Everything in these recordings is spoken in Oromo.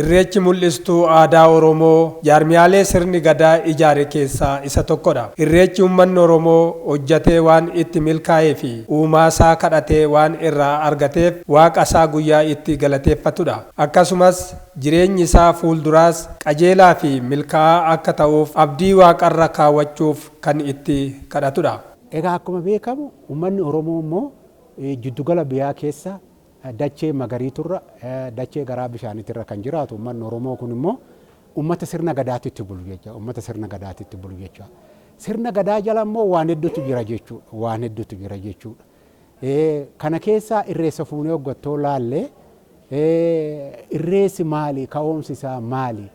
Irreechi mul'istuu aadaa Oromoo jaarmiyaalee sirni Gadaa ijaare keessaa isa tokkodha. Irreechi ummanni Oromoo hojjatee waan itti milkaa'eefi uumaasaa kadhatee waan irraa argateef waaqasaa guyyaa itti galateeffatudha. Akkasumas Jireenyi isaa fuulduraas qajeelaa fi milkaa'aa akka ta'uuf abdii Waaqarra kaawwachuuf kan itti kadhatudha. Egaa akkuma beekamu ummanni Oromoo immoo jiddugala biyaa keessa dachee magariiturra, dachee garaa bishaanitirra kan jiraatu ummanni Oromoo kun immoo ummata sirna Gadaatitti bulu jecha, ummata sirna Gadaatitti bulu jecha. Sirna Gadaa jala immoo waan hedduutu jira jechuudha, waan hedduutu jira jechuudha. Kana keessaa irreessa fuunee oggattoo laalle irreessi maali? Ka'oomsi isaa maali?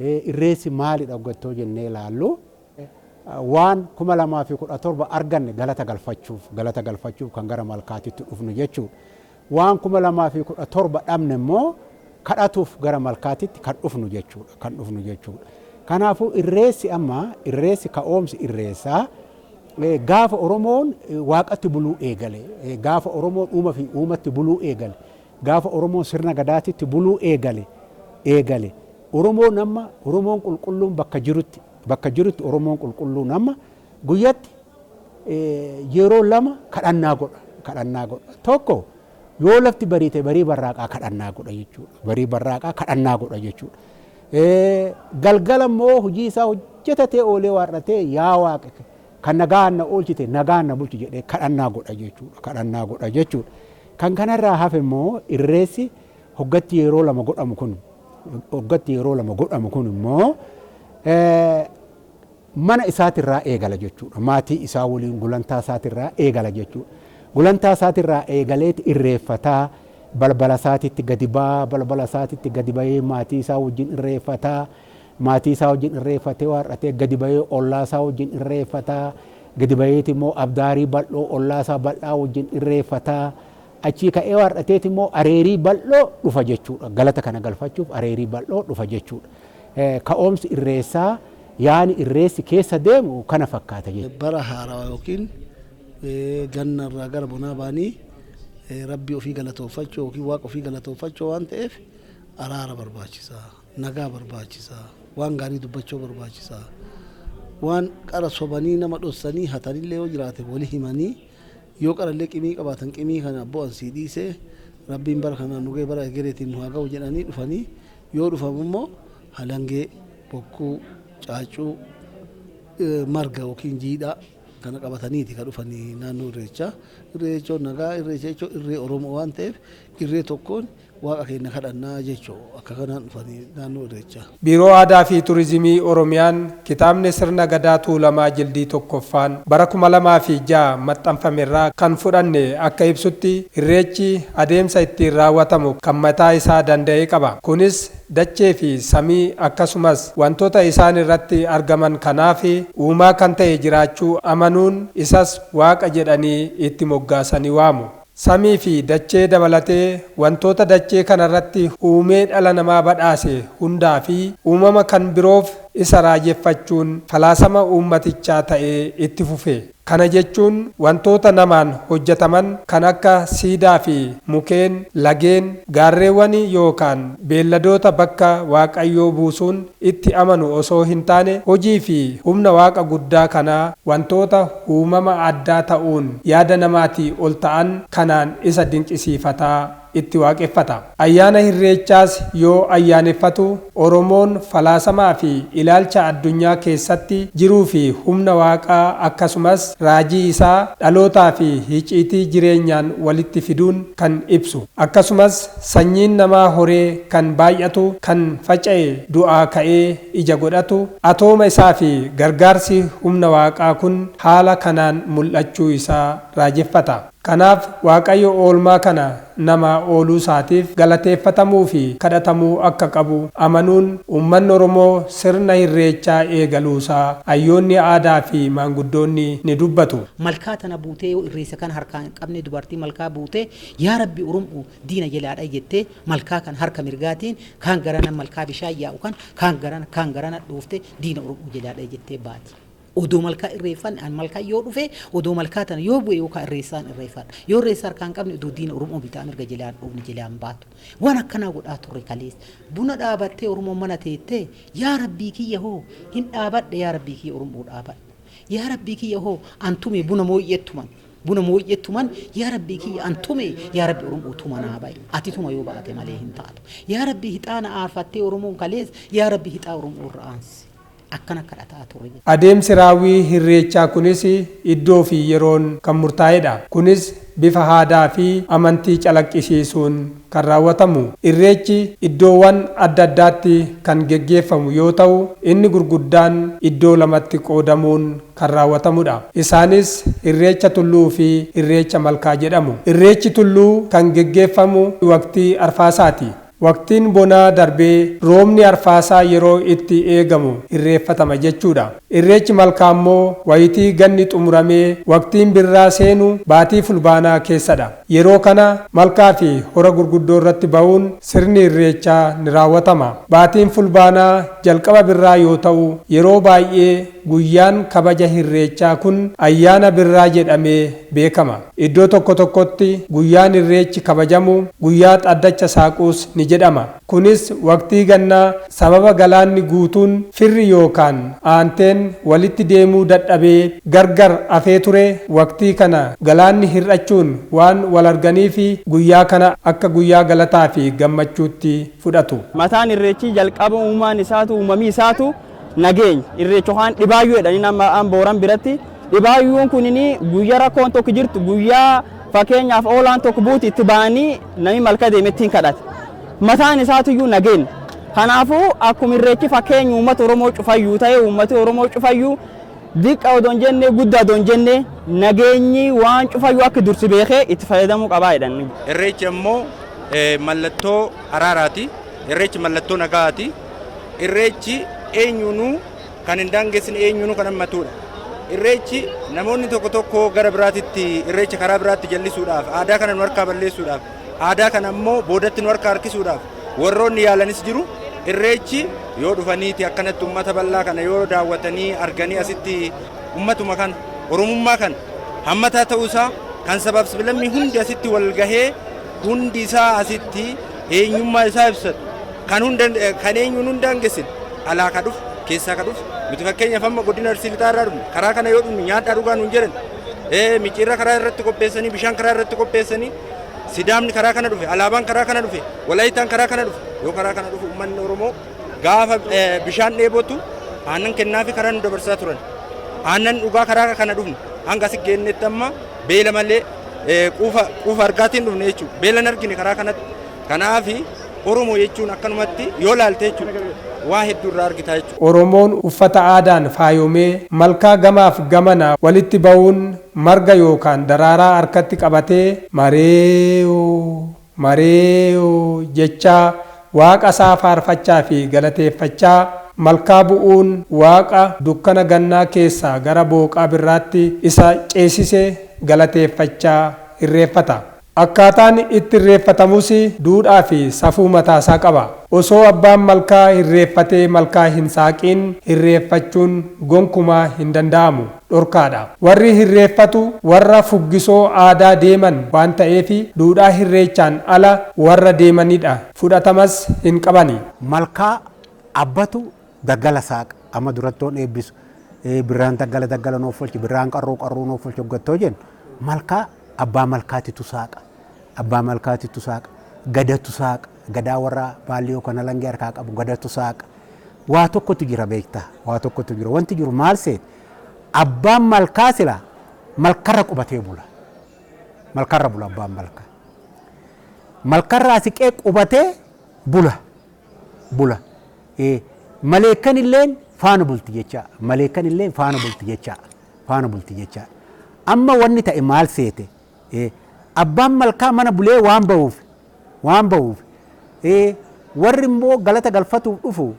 Irreessi maalidha oggattoo jennee laallu waan 2017 arganne galata galfachuuf galata galfachuuf kan gara malkaatitti dhufnu jechuudha. Waan 2017 dhabne immoo kadhatuuf gara malkaatitti kan dhufnu jechuudha kan dhufnu jechuudha. Kanaafuu irreessi amma irreessi ka'oomsi irreessaa Gaafa Oromoon Waaqatti buluu eegale, gaafa Oromoon Uuma fi Uumatti buluu eegale, gaafa Oromoon Sirna Gadaatitti buluu eegale, eegale. Oromoon amma, Oromoon qulqulluun bakka jirutti, bakka jirutti Oromoon qulqulluun amma guyyatti yeroo lama kadhannaa godha, kadhannaa godha. Tokko, Yoo lafti bariite barii barraaqaa kadhannaa godha jechuudha. Barii barraaqaa kadhannaa godha jechuudha. Galgala immoo hojii isaa hojjetatee oolee waar'atee yaa waaqa kan nagaan na oolchite nagaan na bulchi jedhee kadhannaa godha jechuudha. Kadhannaa godha jechuudha. Kan kanarraa hafe immoo irreessi hoggatti yeroo lama godhamu kun hoggatti yeroo lama godhamu kun immoo Mana isaatirraa eegala jechuudha. Maatii isaa waliin gulantaa isaatirraa eegala jechuudha. Gulantaa isaatirraa eegaleeti irreeffata, balbala isaatitti gadi ba'a, balbala isaatitti gadi ba'ee maatii isaa wajjin irreeffata, maatii isaa wajjin irreeffatee waar'atee gadi ba'ee ollaa isaa wajjin irreeffata, gadi ba'eeti immoo abdaarii bal'oo ollaa isaa bal'aa wajjin irreeffata, Achii ka'ee waar'ateeti immoo areerii bal'oo dhufa jechuudha. Galata kana galfachuuf areerii bal'oo dhufa jechuudha. Ka'oomsi irreessaa yaani irreessi keessa deemu kana fakkaata jechuudha. Bara haarawa yookiin ganna irraa gara bonaa ba'anii Rabbii ofii galatoofachuu yookiin Waaqa ofii galatoofachuu waan ta'eef araara barbaachisa. Nagaa barbaachisa. Waan gaarii dubbachuu barbaachisa. Waan qara sobanii nama dhossanii hatanillee yoo jiraate wali himanii Yoo qarallee qimii qabaatan qimii kana abboo an sii dhiisee rabbiin bara kanaan nu ga'e bara egereetiin nu haa ga'u jedhanii dhufanii yoo dhufamu immoo halangee, bokkuu, caaccuu, marga yookiin jiidhaa kana qabataniiti kan dhufan naannoo irreechaa. Irree jechuun nagaa, irreecha jechuun irree Oromoo waan ta'eef irree tokkoon Waaqa keenna kadhannaa jechu akka kanaan dhufani naannoo Irreechaa. Biiroo Aadaa fi Turizimii Oromiyaan kitaabni Sirna Gadaa Tuulamaa Jildii 1ffaan bara 2006 maxxanfame irraa kan fudhanne akka ibsutti Irreechi adeemsa ittiin raawwatamu kan mataa isaa danda'e qaba. Kunis dachee fi samii akkasumas wantoota isaan irratti argaman kanaaf uumaa kan ta'e jiraachuu amanuun isas Waaqa jedhanii itti moggaasanii waamu. Samii fi dachee dabalatee wantoota dachee kana irratti uumee dhala namaa badhaase hundaa fi uumama kan biroof isa raajeffachuun falaasama uummatichaa ta'ee itti fufe. Kana jechuun wantoota namaan hojjetaman kan akka siidaa fi mukeen, lageen, gaarreewwanii yookaan beelladoota bakka Waaqayyoo buusuun itti amanu osoo hin taane hojii fi humna Waaqa guddaa kanaa wantoota uumama addaa ta'uun yaada namaatii ol ta'an kanaan isa dinqisiifata, itti waaqeffata. Ayyaana Hirreechaas yoo ayyaaneffatu Oromoon falaasamaa fi ilaalcha addunyaa keessatti jiruu fi humna Waaqaa akkasumas raajii isaa dhalootaa fi hiciitii jireenyaan walitti fiduun kan ibsu akkasumas, Sanyiin namaa horee kan baay'atu, kan faca'e, du'aa ka'ee ija godhatu, atooma isaa fi gargaarsi humna Waaqaa kun haala kanaan mul'achuu isaa raajeffata. Kanaaf Waaqayyo oolmaa kana namaa ooluu isaatiif galateeffatamuu fi kadhatamuu akka qabu amanuun uummanni Oromoo sirna Hirreechaa eegaluu isaa hayyoonni aadaa fi maanguddoonni ni dubbatu. Malkaa tana buutee yoo irreessa kana harkaan hin qabne dubartii malkaa buute, Yaa Rabbi Urum'u diina jelaa dhayi jettee malkaa kana harka mirgaatiin kaan garana malkaa bishaan yaa'u kana kaan garana kaan garana dhooftee diina Urum'u jelaa dhayi jettee baati. Odoo malkaa irreeffanne an malkaa yoo dhufe odoo malkaa tana yoo bu'e yookaa irreessaan irreeffadha. Yoo irreessa harkaa hin qabne odoo diina Urum'u bitaa mirga jelaa hin dhoofne jelaa hin baatu. Waan akkanaa godhaa turre kaleessa. Buna dhaabattee Oromoon mana teettee yaa Rabbii kiyya hoo hin dhaabadhe yaa Rabbii kiyya Urum'u dhaabadhe. Yaa Rabbii kiyya hoo an tume buna mooyyeet tuman. Buna mooyyee tuman yaa rabbii kiyya an tume yaa rabbi oromoo tuma naa bayi ati tuma yoo baate malee hin taatu yaa rabbi hixaana aarfattee oromoon kalees yaa rabbi hixaa oromoo irra aansi akkana kadhataa ture. Adeemsi raawwii hirreechaa kunis iddoo fi yeroon kan murtaa'edha. Kunis bifa haadaa fi amantii calaqqisiisuun kan raawwatamu. Irreechi iddoowan adda addaatti kan geggeeffamu yoo ta'u inni gurguddaan iddoo lamatti qoodamuun kan raawwatamu dha. Isaanis Irreecha Tulluu fi Irreecha Malkaa jedhamu. Irreechi Tulluu kan geggeeffamu waqtii Arfaasaati. Waqtiin bonaa darbee roobni Arfaasaa yeroo itti eegamu irreeffatama jechuu dha. Irreechi Malkaa immoo wayitii ganni xumuramee waqtiin birraa seenu baatii Fulbaanaa keessa dha. Yeroo kana Malkaa fi Hora Gurguddoo irratti ba'uun sirni Irreechaa ni raawwatama. Baatiin Fulbaanaa jalqaba birraa yoo ta'u yeroo baay'ee. Guyyaan kabaja Hirreechaa kun Ayyaana Birraa jedhamee beekama. Iddoo tokko tokkotti guyyaan Irreechi kabajamu guyyaa Xaddacha Saaquus ni jedhama. Kunis waqtii gannaa sababa galaanni guutuun firri yookaan aanteen walitti deemuu dadhabee gargar afee ture waqtii kana galaanni hir'achuun waan walarganiifi guyyaa kana akka guyyaa galataafi gammachuutti fudhatu. Mataan Irreechii jalqaba uumaan isaatu, uumamii isaatu. Nageeny, Irreecha Hoo'aan Dhibaayyuu jedhanii nama an Booran biratti. Dhibaayyuun kunin guyya rakkoon tokko jirtu guyya fakkeenyaaf oolaan tokko buuti itti ba'anii namni malka deeme ittiin kadhata. Mataan isaatiyyuu nageen. Kanaafuu akkuma irreechi fakkeenya uummata Oromoo cufayyuu ta'e uummati Oromoo cufayyuu diqqa odoo hin jenne guddaa odoo hin jenne nageenyi waan cufayyuu akka dursi beekee itti fayyadamuu qabaa jedhan. Irreechi ammoo mallattoo araaraati. Irreechi mallattoo nagaati. Irreechi eenyuunuu kan hin daangessine, eenyuunuu kan hammatuudha. Irreechi namoonni tokko tokko gara biraatitti irreecha karaa biraatti jallisuudhaaf, aadaa kana nu harkaa balleessuudhaaf, aadaa kana immoo boodatti nu harkaa harkisuudhaaf warroonni yaalanis jiru. Irreechi yoo dhufaniiti akkanatti uummata bal'aa kana yoo daawwatanii arganii asitti uummatuma kana, Oromummaa kana hammataa ta'uu isaa kan sabaaf sablammii hundi asitti wal gahee Hundi isaa asitti eenyummaa isaa ibsatu. Kan hunda kan eenyuun hunda hangessine alaa ka dhufu keessaa ka dhufu nuti fakkeenyaaf amma godina Arsii lixaa irraa dhufne karaa kana yoo dhufnu nyaadhaa dhugaa nuun jedhan ee micciirra karaa irratti qopheessanii bishaan karaa irratti qopheessanii sidaamni karaa kana dhufe alaabaan karaa kana dhufe walaayitaan karaa kana dhufe yoo karaa kana dhufu uummanni Oromoo gaafa ee, bishaan dheebotu aannan kennaafi karaa nu dabarsaa turan aannan dhugaa karaa kana dhufne hanga asi geennetti amma beela malee quufa quufa argaatiin dhufne jechuudha. Beela hin argine karaa kanatti. Kanaaf Oromoo jechuun akkanumatti yoo laalte jechuudha waa hedduu irraa argitaa jechuudha. Oromoon uffata aadaan faayomee malkaa gamaaf gamanaa walitti ba'uun marga yookaan daraaraa harkatti qabatee mareeyoo. Mareeyo jechaa Waaqa isaa faarfachaa fi galateeffachaa malkaa bu'uun Waaqa dukkana gannaa keessaa gara booqaa birraatti isa ceesise galateeffachaa irreeffata. Akkaataan itti irreeffatamus duudhaa fi safuu mataa isaa qaba. Osoo abbaan malkaa irreeffatee malkaa hin saaqiin irreeffachuun gonkumaa hin danda'amu. dhorkaadha. Warri hirreeffatu warra fuggisoo aadaa deeman waan ta'eefi duudhaa hirreechaan ala warra deemanidha. Fudhatamas hin qabani. Malkaa abbatu daggala saaqa. Amma durattoon eebbisu birraan daggala daggala nuuf folchi, birraan qarruu qarruu nuuf folchi hoggattoo jennu malkaa abbaa malkaatitu saaqa. Abbaa malkaatitu saaqa. Gadatu saaqa. Gadaa warra Baalliyoo kan halangee harkaa qabu Gadatu saaqa. Waa tokkotu jira beektaa? Waa tokkotu jira. Wanti jiru maal seete? Abbaan malkaa silaa malkarra qubatee bula. Malkarra bula abbaan malkaa. Malkarraa siqee qubatee bula. Bula. Eh, Maleekkan illeen faana bulti jechaa. Maleekkan illeen faana bulti jechaa. Faana bulti jechaa. Amma wanni ta'e maal seete? Ee, abbaan malkaa mana bulee waan ba'uuf, waan ba'uuf, ee, warri immoo galata galfatuuf dhufu,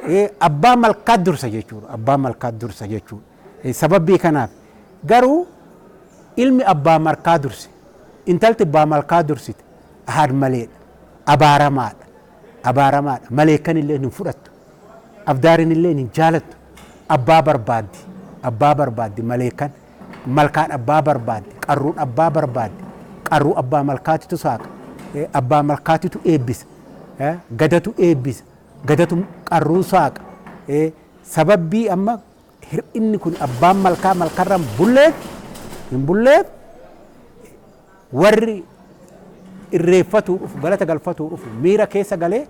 ee, abbaa malkaa dursa jechuudha, abbaa malkaa dursa jechuudha. Ee, Sababbii kanaaf garuu ilmi abbaa malkaa durse, intalti abbaa malkaa dursite ahaad maleedha, abaaramaadha, abaaramaadha, maleekkan illee hin fudhattu, abdaarin illee hin jaalattu, abbaa barbaaddi, abbaa barbaaddi maleekkan. malkaan abbaa barbaaddi, qarruun abbaa barbaaddi, qarruu abbaa malkaatitu saaqa, abbaa malkaatitu eebbisa, gadatu eebbisa, gadatu qarruun saaqa. Sababbii amma hir'inni kun abbaan malkaa malkarra hin bulleef hin bulleef warri irreeffatuu dhufu galata galfatuu dhufu miira keessa galee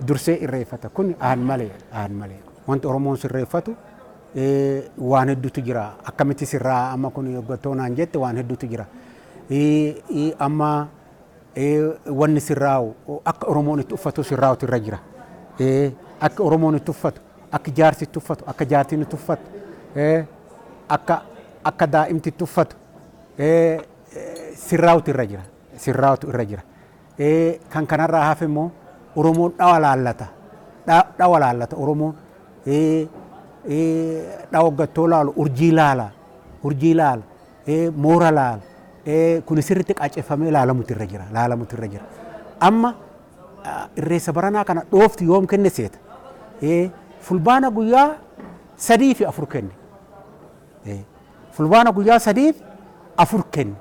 dursee irreeffata kun aan malee aan malee wanti oromoon sirreeffatu waan hedduutu jira akkamitti sirraa amma kun hoggattoo naan jette waan hedduutu jira amma wanni sirraa'u akka oromoon itti uffatu sirraa'utu irra jira akka oromoon itti uffatu akka jaarsi itti uffatu akka jaartiin itti uffatu akka akka daa'imti itti uffatu sirraa'utu irra jira sirraa'utu irra jira. Ee kan kanarraa hafe immoo Oromoon dhawa laallata. Dha, dhawa laallata Oromoon. Ee, ee, dhawa hoggattoo laalu urjii laala. Urjii laala. Ee, moora laala. Ee, kuni sirriitti qaaceffamee laalamutu irra jira. Laalamutu irra jira. Amma ah, irreessa baranaa kana dhoofti yoom kenne seeta? Ee, fulbaana guyyaa sadii fi afur kenne. Ee, fulbaana guyyaa sadii fi afur kenne.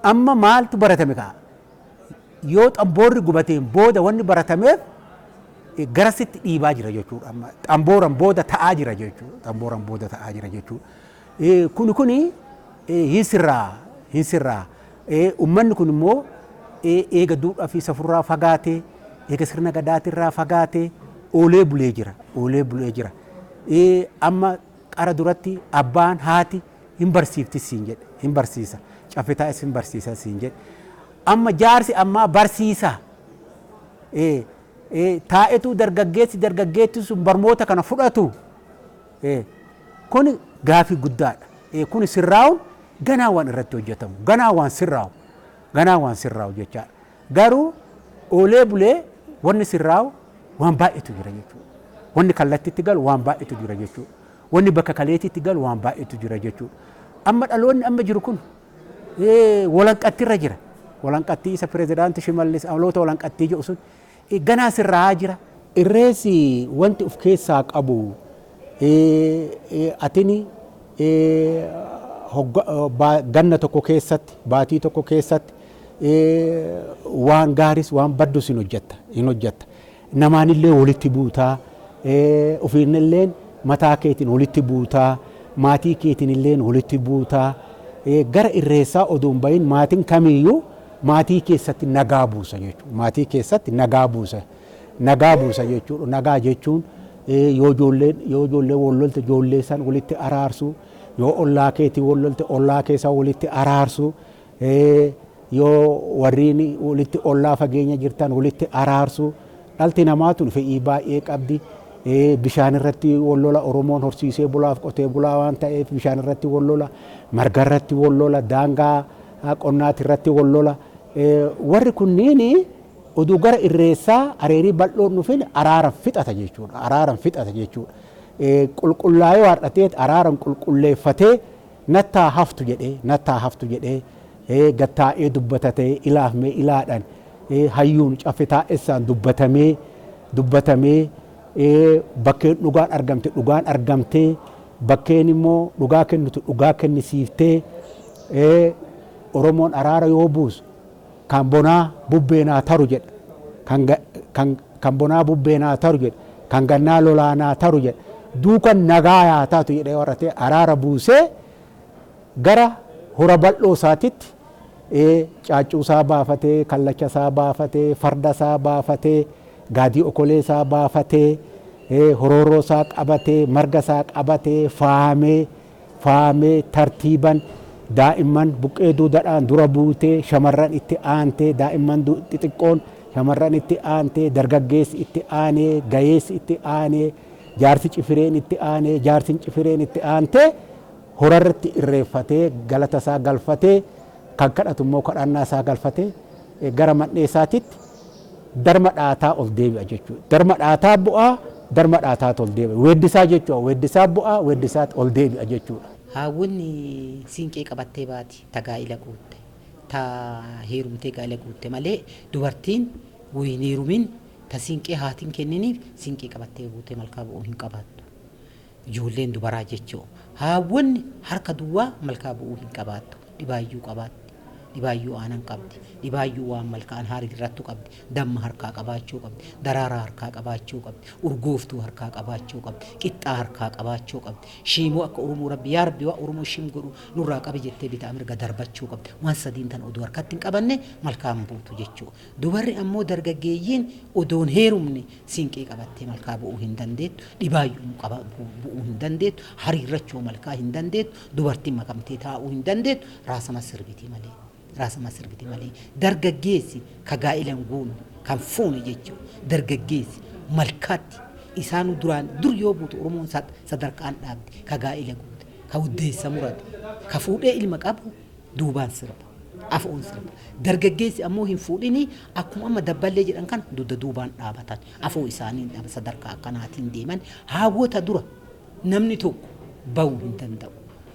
Amma maaltu baratame kaa? Yoo xamboorri gubateen booda wanni baratameef garasitti dhiibaa jira jechuudha. Amma xambooran booda ta'aa jira jechuudha. Xambooran booda ta'aa jira jechuudha. Kuni kuni hin sirraa hin sirraa. Ummanni kun immoo eega duudhaa fi safurraa fagaatee eega sirna gadaatirraa fagaatee oolee bulee jira. Oolee bulee jira. Amma qara duratti abbaan haati Hin barsiiftis siin jedhe. Hin barsiisa. Caffee taa'es hin barsiisa siin jedhe. Amma jaarsi ammaa barsiisa. Ee, ee, taa'etu dargaggeessi dargaggeettiin sun barmoota kana fudhatu. Ee, kuni gaafii guddaadha. Ee, kuni sirraa'uun ganaa waan irratti hojjetamu. Ganaa waan sirraa'u. Ganaa waan sirraa'u jechaadha. Garuu oolee bulee wanni sirraa'u waan baay'eetu jira jechuudha. Wanni kallattiitti galu waan baay'eetu jira jechuudha. Wanni bakka kaleetitti galu waan baay'eetu jira jechuudha. Amma dhaloonni amma jiru kun walanqattirra jira. Walanqattii isa pirezidaanti Shimallis amaloota walanqattii jedhu sun ganaa sirraa'aa jira. Irreessi wanti of keessaa qabu atini ganna tokko keessatti, baatii tokko keessatti waan gaaris waan baddus hin hojjatta. Namaanillee wolitti buuta, ufiinilleen mataa keetiin wolitti buuta, maatii keetiinilleen wolitti buuta. Gara irreessaa odoo hin bayin maatiin kamiiyyuu maatii keessatti nagaa buusa jechuudha. Maatii keessatti nagaa buusa, nagaa buusa jechuudha. Nagaa jechuun yoo ijoolleen, yoo ijoolleen wol lolte ijoollee san wolitti araarsu, yoo ollaa keetii wol lolte ollaa kee san wolitti araarsu. yoo warriin walitti ollaa fageenya jirtan walitti araarsu dhalti namaa tun fedhii baay'ee qabdi. Bishaan irratti wal lola Oromoon horsiisee bulaaf qotee bulaa waan ta'eef bishaan irratti wal lola marga irratti wal lola daangaa qonnaati irratti wal lola warri kunniin oduu gara irreessaa areerii bal'oon dhufin araaran fixata jechuudha. Araaran fixata jechuudha. Qulqullaa'ee waardhateet araaran qulqulleeffatee Nattaa haftu jedhee nattaa haftu jedhee ee gad taa'ee dubbatatee ilaaf mee ilaadhan ee hayyuun caffe taa'essaan dubbatamee dubbatamee ee bakkeen dhugaan argamte dhugaan argamtee bakkeen immoo dhugaa kennitu dhugaa kennisiiftee ee oromoon araara yoo buusu Kan bonaa bubbee naa taru jedhe kan kan kan bonaa bubbee naa taru jedhe kan gannaa lolaa naa taru jedhe duukan nagaa yaa taatu jedhee waratee araara buusee gara hora bal'oo isaatitti ee caaccuu isaa baafatee kallacha isaa baafatee farda isaa baafatee gaadii okolee isaa baafatee ee horooroo isaa qabatee marga isaa qabatee faamee faamee tartiiban daa'imman buqqee duudadhaan dura buutee shamarran itti aantee daa'imman xixiqqoon shamarran itti aantee dargaggeessi itti aanee gayeessi itti aanee jaarsi cifireen itti aanee jaarsin cifireen itti aantee horarratti irreeffatee galata isaa galfatee kan kadhatu immoo kadhannaa isaa galfatee gara man'ee isaatitti Darma dhaataa ol deebi'a jechuudha. Darma dhaataa bu'a, darma dhaataatu ol deebi'a. Weeddisaa jechuudha. Weeddisaa bu'a, weeddisaatu ol deebi'a jechuudha. Haawwiin siinqee qabattee baati ta gaa'ila guutte, ta heerumtee gaa'ila guutte malee dubartiin utuu hin heerumin ta siinqee haati hin kenniniif siinqee qabattee buutee malkaa bu'uu hin qabaattu. Ijoolleen dubaraa jechuun haawwonni harka duwwaa malkaa bu'uu hin qabaattu. Dhibaayyuu qabaatti. Dhibaayyuu aanan qabdi. Dhibaayyuu waan malkaan haariirrattu qabdi. Damma harkaa qabaachuu qabdi. Daraaraa harkaa qabaachuu qabdi. Urgooftuu harkaa qabaachuu qabdi. Qixxaa harkaa qabaachuu qabdi. Shiimoo akka Oromoo Rabbi yaa Rabbi waan Oromoo shim godhu nurraa qabi jettee bitaa mirga darbachuu qabdi. Waan sadiin tana odoo harkatti hin qabanne malkaa hin buutu jechuudha. Dubarri ammoo dargaggeeyyiin odoo hin heerumne siinqee qabattee malkaa bu'uu hin dandeettu, dhibaayyuu qaba bu'uu hin dandeettu, hariirrachoo malkaa hin dandeettu, dubartiin makamtee taa'uu hin dandeettu, raasama sirbiti malee. Raasama sirbiti malee. Dargaggeessi ka gaa'ila hin guunne, ka hin fuune jechuun dargaggeessi malkaatti isaanuu duraan dur yoo buutu Oromoon sadarkaan dhaabdi ka gaa'ila guute, ka uddeessa murate, ka fuudhee ilma qabu duubaan sirba. Afoon sirba. Dargaggeessi ammoo hin fuudhinii akkuma amma dabballee jedhan kana dugda duubaan dhaabatan. Afoo isaaniin dhaba sadarkaa akkanaatiin deeman haawwota dura namni tokko bahu hin danda'u.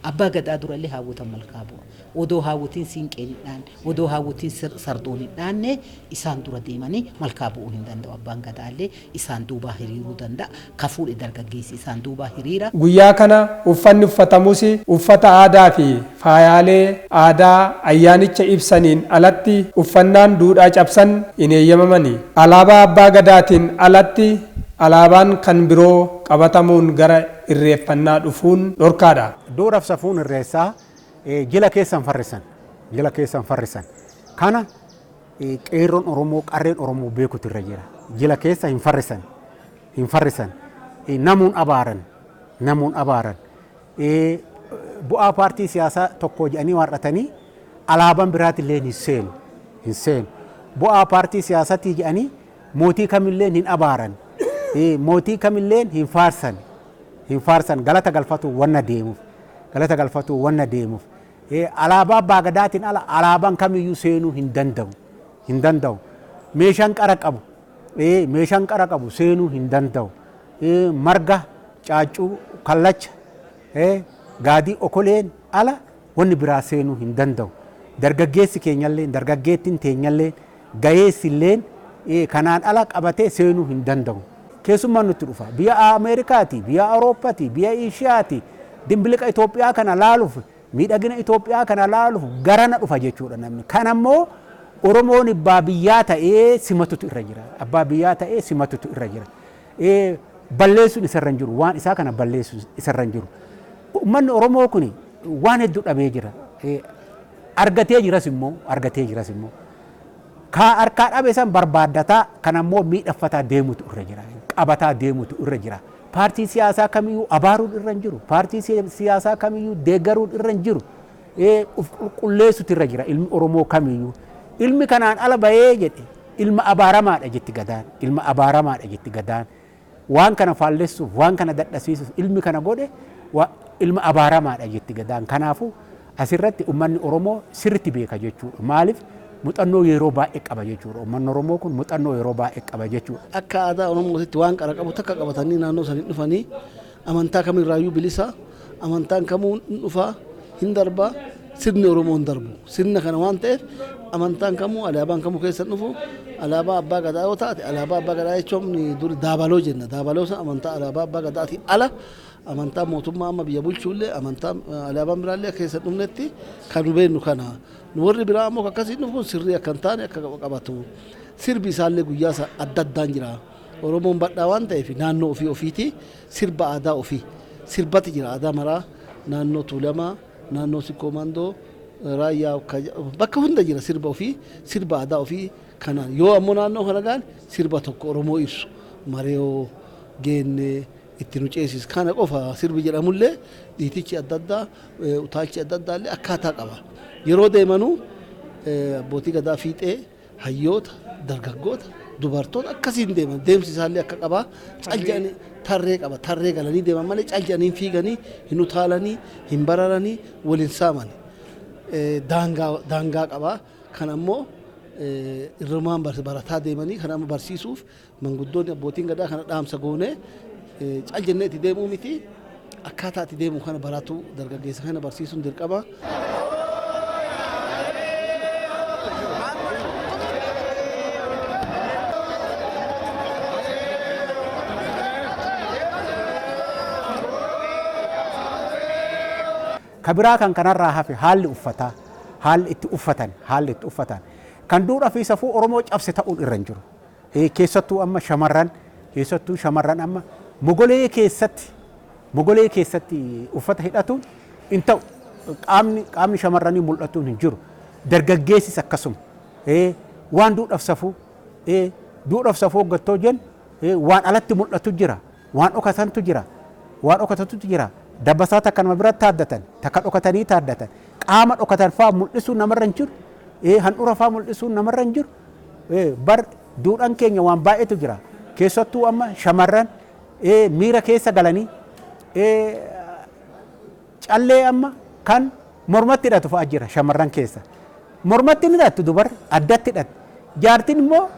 Abbaa gadaa dura illee haawwotan malkaa bu'a. Odoo haawwotiin siinqeen hin dhaanne, odoo haawwotiin sardoon hin dhaanne isaan dura deemanii malkaa bu'uu hin danda'u abbaan gadaa illee isaan duubaa hiriiruu danda'a. Ka fuudhe dargaggeessi isaan duubaa hiriira. Guyyaa kana uffanni uffatamus uffata aadaafi faayaalee aadaa ayyaanicha ibsaniin alatti uffannaan duudhaa cabsan hin eeyyamamani. Alaabaa Abbaa Gadaatiin alatti alaabaan kan biroo qabatamuun gara irreeffannaa dhufuun dhorkaadha. Duudhaaf safuun irreessaa jila keessan farrisan, jila keessan farrisan kana. Qeerroon Oromoo qarreen Oromoo beekutu irra jira. Jila keessa hin farrisan. Hin farrisan. Namuun abaaran. Namuun abaaran. Bu'aa paartii siyaasaa tokkoo jedhanii waar'atanii alaabaan biraatillee hin seenu. Hin seenu. Bu'aa paartii siyaasatii jedhanii mootii kamilleen hin abaaran. Mootii kamilleen hin faarsan. Hin faarsan. Galata galfatu wanna deemuuf. Galata galfatu wanna deemuuf. Alaabaa Abbaa Gadaatiin ala alaabaan kamiyyuu seenuu hin danda'u. Hin danda'u. Meeshaan qara qabu meeshaan qara qabu seenuu hin danda'u. Marga, caaccuu, kallacha, gaadii okoleen ala wanni biraa seenuu hin danda'u. Dargaggeessi keenyalleen, dargaggeettiin teenyalleen Gaheessi illeen kanaan ala qabatee seenuu hin danda'u. Keessummaan nutti dhufa. Biyya Ameerikaati, biyya Awurooppati, biyya Eeshiyaati. Dimbiliqa Itoophiyaa kana laaluuf, miidhagina Itoophiyaa kana laaluuf garana dhufa jechuudha namni. Kana immoo Oromoon abbaa biyyaa ta'ee simatutu irra jira. Abbaa biyyaa ta'ee simatutu irra jira. balleessuun isa irra hin jiru. Waan isaa kana balleessuun isa irra hin jiru. Uummanni Oromoo kun waan hedduu dhabee jira. Argatee jiras immoo argatee jiras immoo kaa harkaa dhabe san barbaaddataa kan ammoo miidhaffataa deemutu irra jira. Qabataa deemutu irra jira. Paartii siyaasaa kamiyyuu abaaruun irra hin jiru. Paartii siyaasaa kamiyyuu deeggaruun irra hin jiru. ee uf qulqulleessutu irra jira ilmi Oromoo kamiyyuu. Ilmi kanaan ala bahee jedhe ilma abaaramaadha jetti Gadaan. Ilma abaaramaadha jetti Gadaan. Waan kana faallessuuf, waan kana dadhasiisuuf ilmi kana godhe wa- ilma abaaramaadha jetti Gadaan. Kanaafuu asirratti ummanni Oromoo sirritti beeka jechuudha. Maaliif muxannoo yeroo baay'ee qaba jechuudha. Ummanni Oromoo kun muxannoo yeroo baay'ee qaba jechuudha. akka aadaa oromootitti waan qara qabu takka qabatanii naannoo sanii dhufanii Amantaa kam irraayyuu bilisa, amantaan kamuu hin dhufa, hin darba, sirni Oromoo hin darbu. Sirna kana waan ta'eef amantaan kamuu alaabaan kamuu keessa hin dhufu. Alaabaa abbaa gadaa yoo taate alaabaa abbaa gadaa jechuun dur daabaloo jenna. Daabaloo sun amantaa alaabaa abbaa gadaatiin ala amantaa mootummaa amma biyya bulchuullee amantaa alaabaan biraallee keessa hin dhufnetti kan nu beeknu kana. Nu warri biraa ammoo akkasii dhufuun sirrii akka hin taane akka qabatu. Sirbi isaallee guyyaa isaa adda addaan jira. Oromoon badhaa waan ta'eef naannoo ofii ofiiti sirba aadaa ofii sirbati jira aadaa maraa naannoo Tuulamaa naannoo Sikkoo Mandoo Raayyaa bakka hunda jira sirba ofii sirba aadaa ofii kanaan yoo ammoo naannoo kana gaan sirba tokko Oromoo ibsu mareeyoo geennee itti nu ceesis kana qofa sirbi jedhamullee dhiitichi adda addaa utaalchi adda addaa illee akkaataa qaba yeroo deemanuu abbootii gadaa fiixee Hayyoota, dargaggoota, dubartoota akkasiin deeman. Deemsi isaallee akka qabaa cal jedhanii tarree qaba. Tarree galanii deeman malee cal jedhanii hin fiiganii, hin utaalanii, hin bararanii, wal hin saamani. Eh, Daangaa daangaa qaba. Kan ammoo eh, irrumaan bar- barataa deemanii kan amma barsiisuuf Manguddoonni abbootiin gadaa kana dhaamsa goonee cal jennee itti deemuu miti akkaataa itti deemu kana baratu dargaggeessa kana barsiisuun dirqama. Ka biraa kan kanarraa hafe haalli uffataa, haalli itti uffatan, haalli itti uffatan kan duudhaa fi safuu Oromoo cabse ta'uun irra hin jiru. keessattuu amma shamarran keessattuu shamarran amma mogolee keessatti mogolee keessatti uffata hidhatuun hin ta'u. Qaamni qaamni shamarranii mul'atuun hin jiru. Dargaggeessis akkasuma. Waan duudhaaf safuu duudhaaf safuu hoggattoo jennu waan alatti mul'atu jira. Waan dhokatantu jira. Waan dhokatatutu jira. Dabbasaa takka nama biratti taaddatan takka dhokatanii taaddatan qaama dhokatan fa'aa mul'isuun namarra hin jiru. Handhuura fa'aa mul'isuun namarra hin jiru. Ee, bar duudhan keenya waan baay'eetu jira. Keessattuu amma shamarran ee, miira keessa galanii ee, callee amma kan mormatti hidhatu fa'a jira shamarran keessa. Mormatti hin hidhattu dubar addatti hidhatti. Jaartiin immoo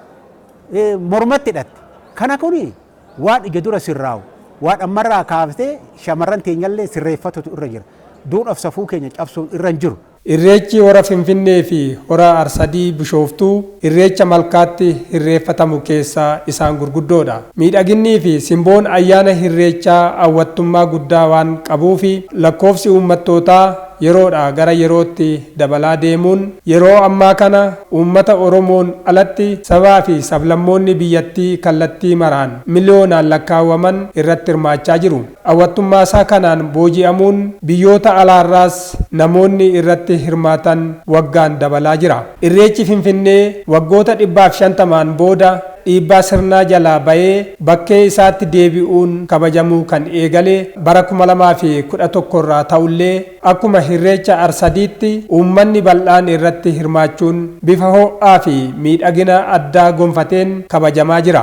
ee, mormatti hidhatti. Kana kuni waan ija dura sirraa'u waan ammarraa kaaftee shamarran teenyallee sirreeffatutu irra jira. Duudhaaf safuu keenya cabsuun irra hin jiru. Irreechi Hora Finfinnee fi Hora Arsadii Bishooftuu irreecha malkaatti hirreeffatamu keessaa isaan gurguddoodha. Miidhaginnii fi simboon ayyaana hirreechaa awwattummaa guddaa waan qabuufi lakkoofsi uummattootaa yeroodhaa gara yerootti dabalaa deemuun yeroo ammaa kana uummata Oromoon alatti sabaa fi sablammoonni biyyattii kallattii maraan miliyoonaan lakkaawwaman irratti hirmaachaa jiru. Hawwattummaasaa kanaan booji'amuun biyyoota alaarraas namoonni irratti hirmaatan waggaan dabalaa jira. Irreechi Finfinnee waggoota dhibbaaf shantamaan booda dhiibbaa sirnaa jalaa ba'ee bakkee isaatti deebi'uun kabajamuu kan eegale bara kuma lamaa fi kudha tokko irraa ta'ullee, akkuma Hirreecha Arsadiitti uummanni bal'aan irratti hirmaachuun bifa ho'aafi miidhagina addaa gonfateen kabajamaa jira.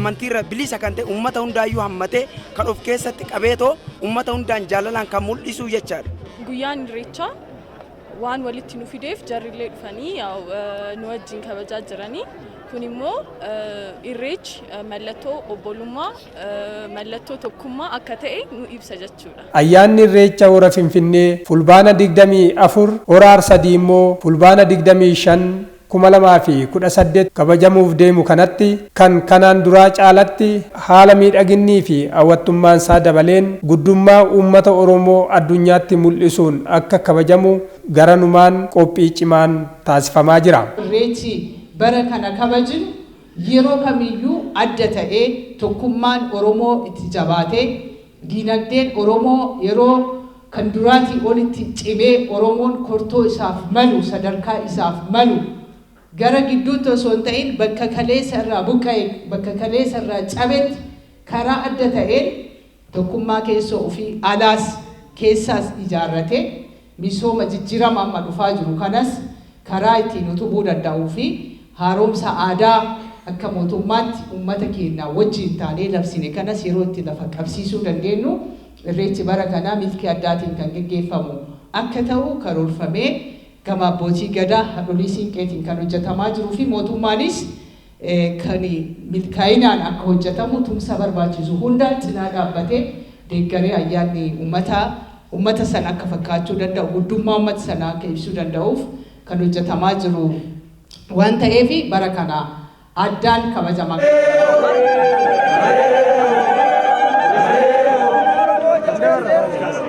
amantiirra bilisa kan ta'e ummata hundaayyuu hammatee kan of keessatti qabeetoo ummata hundaan jaalalaan kan mul'isuu jechaadha. Guyyaan Irreechaa waan walitti nu fideef jarrillee dhufanii nu wajjin kabajaa jiranii. Kun immoo irreechi mallattoo obbolummaa, mallattoo tokkummaa akka ta'e nu ibsa jechuudha. Ayyaanni Irreecha Hora Finfinnee Fulbaana 24, Hora Arsadii immoo Fulbaana 25 2018 kabajamuuf deemu kanatti kan kanaan duraa caalatti haala miidhaginnii fi hawwattummaan isaa dabaleen guddummaa uummata Oromoo addunyaatti mul'isuun akka kabajamu garanumaan qophii cimaan taasifamaa jira. Irreechi bara kana kabajnu yeroo kamiyyuu adda ta'ee tokkummaan Oromoo itti jabaatee, Diinagdeen Oromoo yeroo Kan duraatii olitti cimee Oromoon kortoo isaaf malu, sadarkaa isaaf malu, gara gidduutti osoo hin ta'in bakka kaleessa irraa buqqa'e, bakka kaleessa irraa cabetti karaa adda ta'een tokkummaa keessoo ofii alaas keessaas ijaarratee misooma jijjirama amma dhufaa jiru kanas karaa ittiin utubuu danda'uu fi haaromsa aadaa akka mootummaatti ummata keennaa wajjiin taanee labsine kanas yeroo itti lafa qabsiisuu dandeennu Irreechi bara kanaa milkii addaatiin kan geggeeffamu akka ta'u karoorfamee gama Abbootii Gadaa, Hadholii Siinqeetiin kan hojjatamaa jiruu fi mootummaanis kan milkaa'inaan akka hojjatamu tumsa barbaachisu hundaan cinaa dhaabbatee deeggaree ayyaanni ummataa ummata sana akka fakkaachuu danda'u, guddummaa ummata sanaa akka ibsuu danda'uuf kan hojjatamaa jiru waan ta'eef bara kana addaan kabajamaa.